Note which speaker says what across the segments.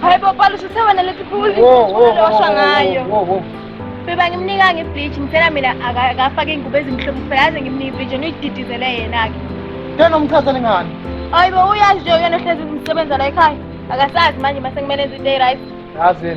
Speaker 1: Hayi bo Palusi sewena lethi phuli. Uzoshwa ngayo. Beba ngimnika nge bleach ngitshela mina akafake ingubo ezimhlophe kuphela aze ngimnike bleach yena uyididizele yena ke. Tena umchazele
Speaker 2: ngani? Hayi bo uyazi nje
Speaker 1: yena ohlezi umsebenza la ekhaya. Akasazi manje mase kumele enze into e right. Yazi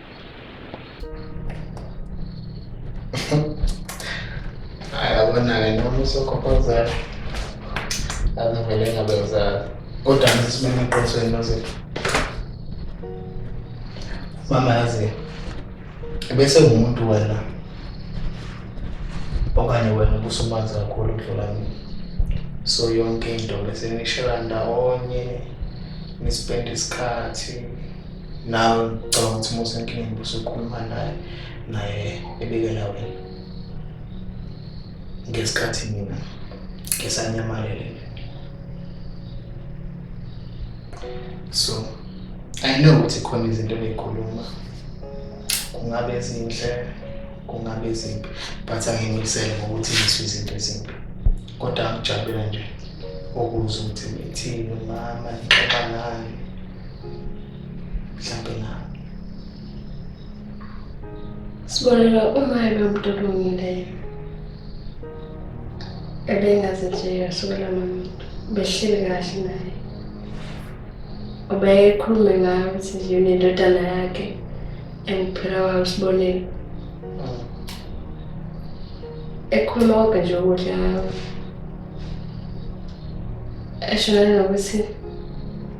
Speaker 3: ayabona-ke noma usokhophozayo azivele ngabe uzayo kodwa ngisimeme eqinisweni nozethu mama yazi bese ngumuntu wena okanye wena ubusumanzi kakhulu ukudlula mina so yonke into bese nishela ndawonye nispenda isikhathi Nawe ngicabanga ukuthi uma usenkingeni usukhuluma naye naye ebikela wena. Ngesikhathi mina ngisanyamalele. So I know ukuthi khona izinto ebeyikhuluma kungabe ezinhle kungabe ezimbi but angimisele ngokuthi ngisho izinto ezimbi kodwa ngijabule nje ukuze ukuthi ngithini mama ngixoxa ngani mhlawumbe na
Speaker 4: sibonela uma ebe umuntu olungileyo ebengaze nje yasukela nomuntu behleli kahle naye obekhulume ngayo ukuthi nje unendodana yakhe engiphila wayo sibonele ekhuluma konke nje okuhle ngayo eshonele nokuthi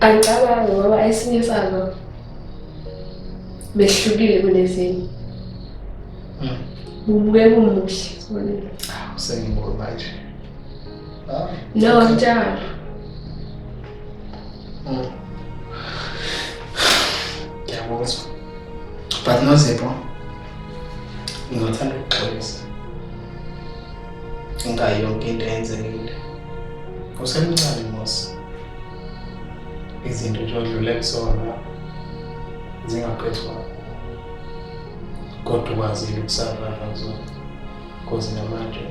Speaker 4: Angicabangi ngoba esinye sazo behlukile kunezinye. Hmm. Bubuke kumuhle sibonile. Ah, Usengibona
Speaker 3: manje.
Speaker 4: Ah, no, njalo. Hmm.
Speaker 3: Ngiyabuzwa. But no zipho. Ngingathanda ukuxolisa. Ngayo yonke into eyenzekile. Usemncane Mosi. Izinto nje odlule kuzona zingaphethwanga. Kodwa ukwazile ukusavana kuzona. Kozi namanje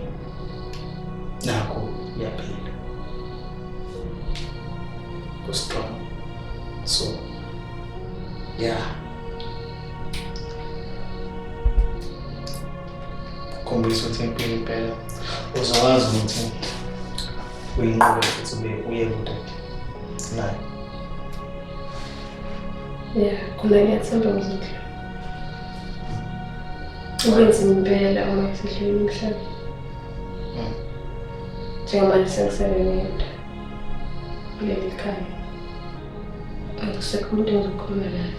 Speaker 3: nakho uyaphila. Kustrong. So, yeah. khombisa ukuthi impilo impela uzokwazi ukuthi uyinqobe futhi ube uye kude naye
Speaker 4: ya khona ngiyathemba ngizodla ukwenza impela uma ngisedlula umhlaba hmm. njengamanje sengisele ngedwa kuleli khaya Akusekho umuntu engizokhuluma naye.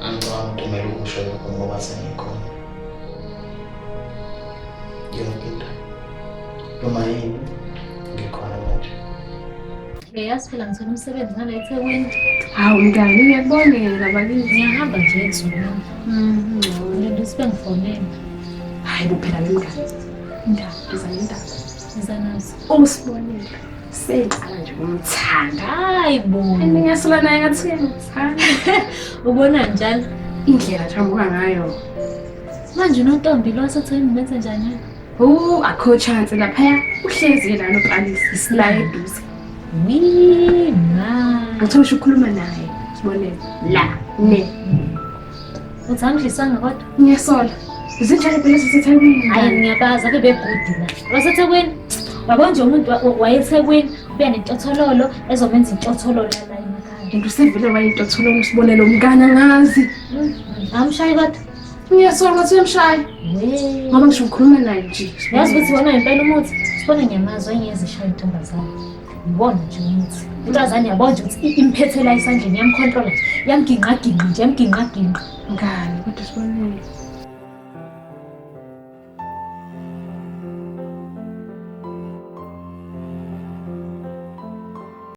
Speaker 3: Angicabanga ukuthi kumele ukusho lokho ngoba sengikhona. Yonke into. Noma yini ngikhona manje.
Speaker 5: Ngiyazi phela ngithola umsebenzi ngala eThekwini. Hawu mntana
Speaker 4: ngiyakubongela bakithi. Ngiyahamba nje ezweni.
Speaker 5: Mhm. Ngilinde sibe ngifonele. Hayi
Speaker 4: kuphela wemngane. Indaba, ngizana indaba. Ngizanazo. Usibonile. Sengicela nje ukumthanda. Hayi bo.
Speaker 5: Ngiyasola naye
Speaker 4: ngathi uyangithanda. Ubona
Speaker 5: njalo indlela jambuka
Speaker 4: ngayo. Manje
Speaker 5: uNontombi lo asatheni menze njani? Oh, akho
Speaker 4: chance lapha uhlezi yena noqalisa isila eduze. Mina.
Speaker 5: Ngithola ukhuluma naye.
Speaker 4: Sibone la ne. Uzangidlisanga
Speaker 5: kodwa? Ngiyasola.
Speaker 4: Zinjani phela siseThekwini? Hayi ngiyabazi ake
Speaker 5: bebhudi la. Wasethekwini? Yabo nje umuntu wayethekwini ubuya nentothololo ezomenza intothololo la emakhaya. Into sevele wayentothololo
Speaker 4: usibonele umkana ngazi. Hmm, Amshayi
Speaker 5: kodwa? Ngiyasola ukuthi
Speaker 4: uyamshaya. Ngoba ngisho ngikhuluma naye nje. Yazi ukuthi wona impela
Speaker 5: umuthi. Sibona ngiyamazi wayengezishayo intombazane. Ngibona nje umuthi. Intombazane yabona nje ukuthi imphethe la isandleni yamkhontrola
Speaker 4: nje.
Speaker 5: Yamginqaginqa nje, yamginqaginqa. Ngani kodwa sibonile.